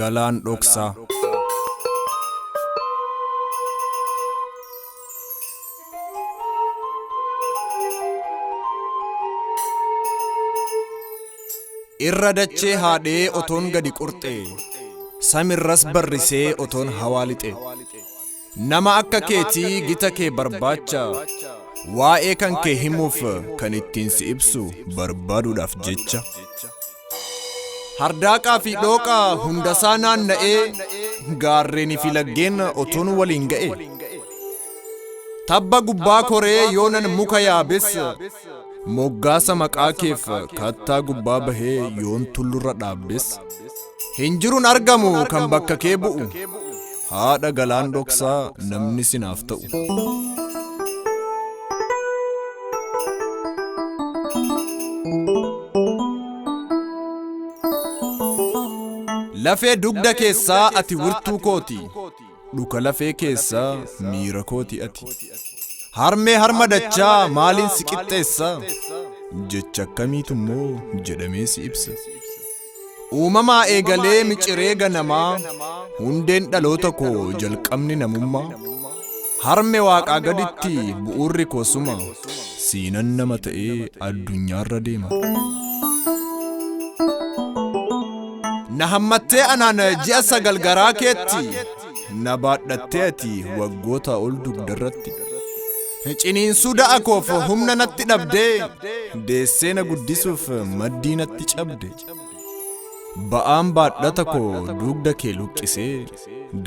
Galaan dhoksaa. Irra dachee haadhee otoon gadi qurxee. Samirras barrisee otoon hawaa lixee. Nama akka keetii gita kee barbaacha waa'ee kan kee himuuf kan ittiin si ibsu barbaaduudhaaf jecha. Hardaaqaa fi dhooqa hundasaa naanna'ee gaarreenii fi laggeen otuun waliin ga'e. Tabba gubbaa koree yoonan muka yaabes moggaasa maqaa keef kattaa gubbaa bahee yoon tullurra dhaabbes. Hin jirun argamu kan bakka kee bu'u. Haadha galaan dhoksaa namni sinaaf ta'u. Lafee dugda keessaa ati wirtuu kooti. Dhuka lafee keessaa miira kooti ati. Harmee harma dachaa maaliin si qixxeessa? Jecha akkamiitu immoo jedhamee si ibsa? Uumamaa eegalee miciree ganamaa hundeen dhaloota koo jalqabni namummaa harme waaqaa gaditti bu'uurri koo suma siinan nama ta'ee addunyaarra deema. Na hammattee anaan ji'a sagal garaa keetti. Na baadhattee ati waggootaa ol dugdarratti. Ciniinsuu da'a koof humna natti dhabdee, deessee na guddisuuf maddii natti cabde. Ba'aan baadhata koo dugda kee luqqisee,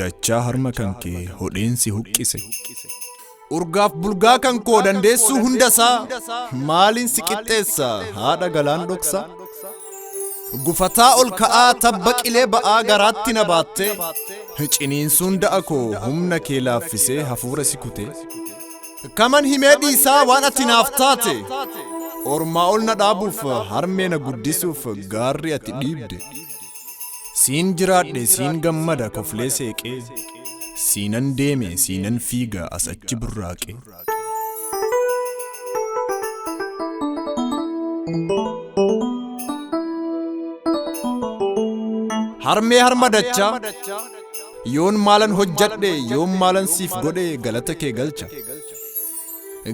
dachaa harma kan kee hodheen si huqqise. Urgaaf bulgaa kan koo dandeessuu hundasaa maaliin si qixxeessa haadha galaan dhoksa. Gufataa ol ka'aa tabba qilee ba'aa garaatti na baatte ciniinsuun da'a koo humna kee laaffisee hafuura si kute. Kaman himee dhiisaa waan ati naaf taate ormaa ol na dhaabuuf harmee na guddisuuf gaarri ati dhiibde. Siin jiraadhe siin gammada koflee seeqee Siinan deeme siinan fiiga as achi burraaqee. Harmee harma dachaa yoon maalan hojjadhe yoon maalan siif godhe galata kee galcha.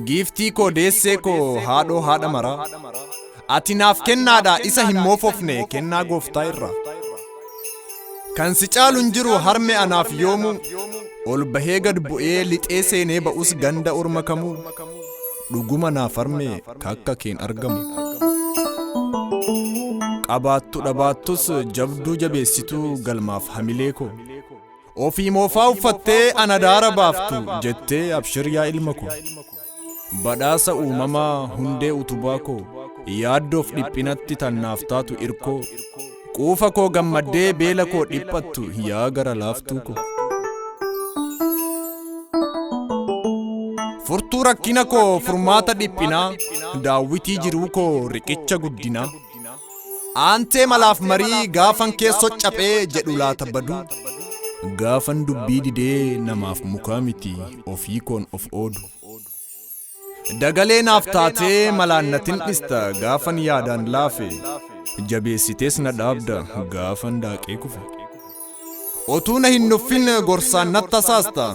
Giiftii koo deessee koo haadhoo haadha maraa. Ati naaf kennaadha isa hin moofofne kennaa gooftaa irraa. Kan si caalu hin jiru harme anaaf yoomuu. Ol bahee gad bu'ee lixee seenee ba'us ganda orma kamuu. Dhuguma naaf harme kakka keen argamu. Qabaattu dhabaattus jabduu jabeessituu galmaaf hamilee koo. Ofii moofaa uffattee an adaara baaftu jettee abshir yaa ilma koo. Badhaasa uumamaa hundee utubaa koo yaaddoof dhiphinatti tannaaf taatu irkoo. Quufa koo gammaddee beela koo dhiphattu yaa gara laaftuu koo. Furtuu rakkina koo furmaata dhiphinaa daawwitii jiruu koo riqicha guddinaa. Aantee malaaf marii gaafan keessoo caphee jedhu laata baduu. Gaafan dubbii didee namaaf mukaa miti ofii koon of oodu. Dagalee naaf taatee malaan natin dhista gaafan yaadaan laafe. Jabeessitees na dhaabda gaafan daaqee kufe. Otuu na hin nuffin gorsaan natti tasaasta.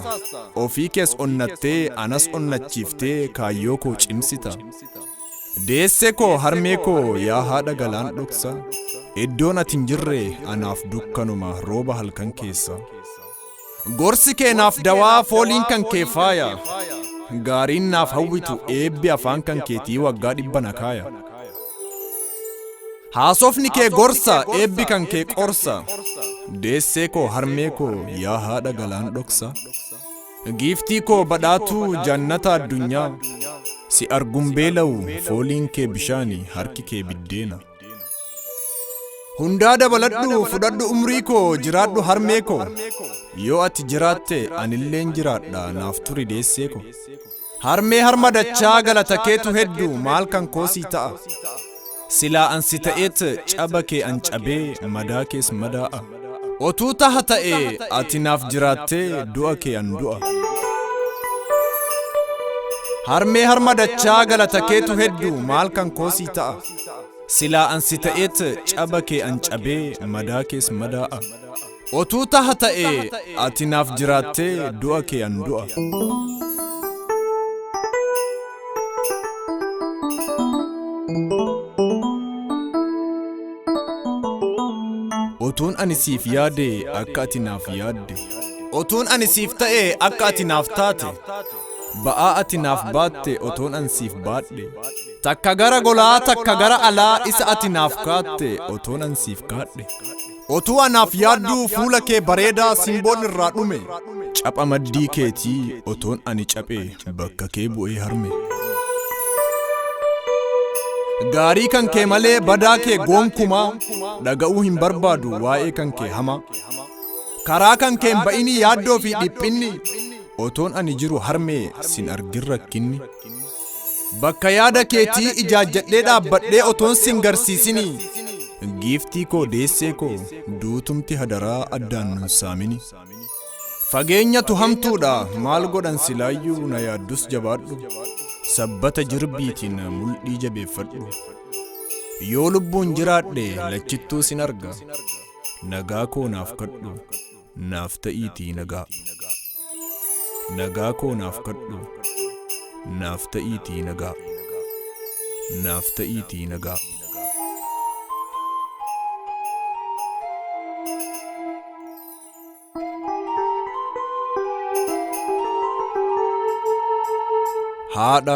Ofii kees onnattee anas onnachiiftee kaayyoo koo cimsita. Deessee koo harmee koo yaa haadha galaan dhoksa Iddoon ati hin jirre anaaf dukkanuma rooba halkan keessa Gorsi kee naaf dawaa fooliin kan kee faaya Gaariin naaf hawwitu eebbi afaan kan keetii waggaa dhibba na kaaya Haasofni kee gorsa eebbi kan kee qorsa Deessee koo harmee koo yaa haadha galaan dhoksa Giiftii koo badhaatuu jannata addunyaa si arguun beela'u fooliin kee bishaani harki kee biddeena. Hundaa dabaladhu fudhadhu umrii koo jiraadhu harmee koo yoo ati jiraatte anilleen jiraadha naaf turi deessee koo. Harmee harma dachaa galata keetu heddu maal kan koo sii ta'a. Silaa an si ta'eet caba kee an cabee madaa kees madaa'a. Otuu taha ta'e ati naaf jiraattee du'a kee an du'a. Harmee harma dachaa galata keetu heddu maal kan koo sii ta'a. Silaa an si ta'eet caba kee an cabee madaa kees madaa'a. Otuu taha ta'e ati naaf jiraattee du'a kee an du'a. Otuun ani siif yaade akka ati naaf yaadde. Otuun ani siif ta'e akka ati naaf taate. Ba'aa ati naaf baatte otoon an siif baadhe. Takka gara golaa takka gara alaa isa ati naaf kaatte otoon an siif kaadhe. Otuu anaaf yaadduu fuula kee bareedaa simboon irraa dhume. Capha maddii keetii otoon ani caphee bakka kee bu'ee harme. Gaarii kan kee malee badaa kee gonkumaa dhaga'uu hin barbaadu waa'ee kan kee hamaa. Karaa kan kee hin ba'inii yaaddoo fi dhiphinni otoon ani jiru harmee sin argin rakkinni. Bakka yaada keetii ijaajjadhee dhaabbadhee otoon sin garsiisini. Giiftii koo deessee koo duutumti hadaraa addaan nun saamini. Fageenyatu hamtuudha maal godhan silaayyuu na yaaddus jabaadhu. Sabbata jirbiitiin mul'ii jabeeffadhu. Yoo lubbuun jiraadhe lachittuu sin arga. Nagaa koo naaf kadhu. naaf ta'iitii nagaa. Nagaa koo naaf kadhu naaf ta'iitii nagaa. Naaf ta'iitii nagaa. Haadha.